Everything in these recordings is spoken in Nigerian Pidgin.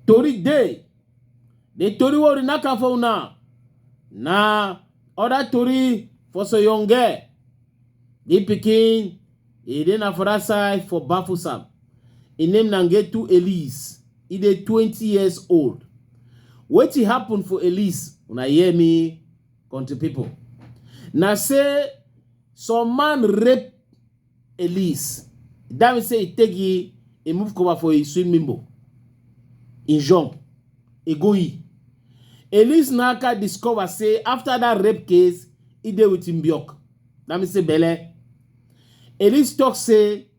tori dey the tori wey we knack am for una na other tori for soyonge the pikin e dey na for that side for bafusam e name na ngetu elise e dey twenty years old wetin happen for elise una hear me Country people. Now say some man rape Elise. That means say he take he, he move cover for a swimming pool. He jump. He go he. Elise Naka discover say after that rape case, he dey with Mbiok. That means say Bele. Elise talk say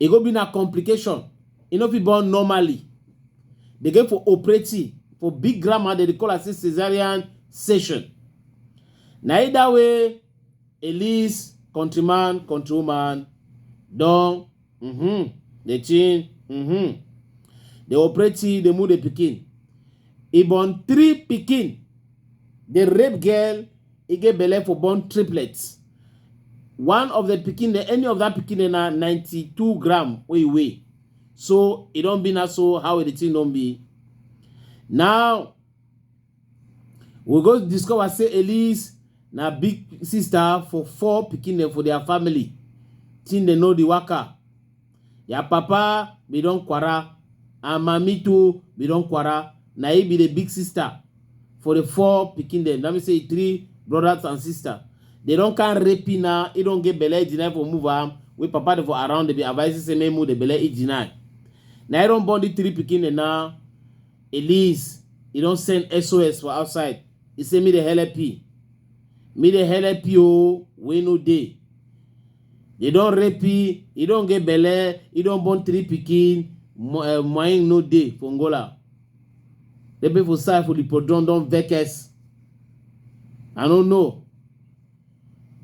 e go be na complication e no fit born normally they go for operating for big grammar they dey call am say cesarean section na either way elise countryman countrywoman don mm-hmm, dey chin mm-hmm, dey operating dey move the pikin e born three pikin dey rape girl e get belle for born triplets one of the pikin dem any of that pikin dem na 92 gram wey e weigh so e don be na so how the thing don be now we go discover say elise na big sister for four pikin dem for their family thing dem no dey waka Your papa be don kwara and mami too be don kwara. Na he be the big sister for the four pikin dem. That means say three brothers and sister. They don can rape him now. He don get belle, he deny for move am. Wey papa dey for around, they be advising say make move the belle, he deny. Na he don born the three pikin dem now. Elise, he don send SOS for outside. He say me dey help you. Me dey help you o, wey no dey. They don rape e, e don get belle, e don born three pikin, mo- eh, moyen no dey for Angola. The people for side for the podron don vex us. I no know.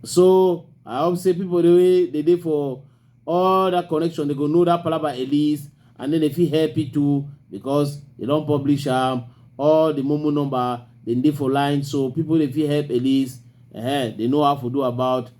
So I hope say people dey wey dey dey for all that connection they go know that palaba at least and then they fit help it too because they don publish am all the momo number dem dey for line so people dey fit help at least uh, they know how to do about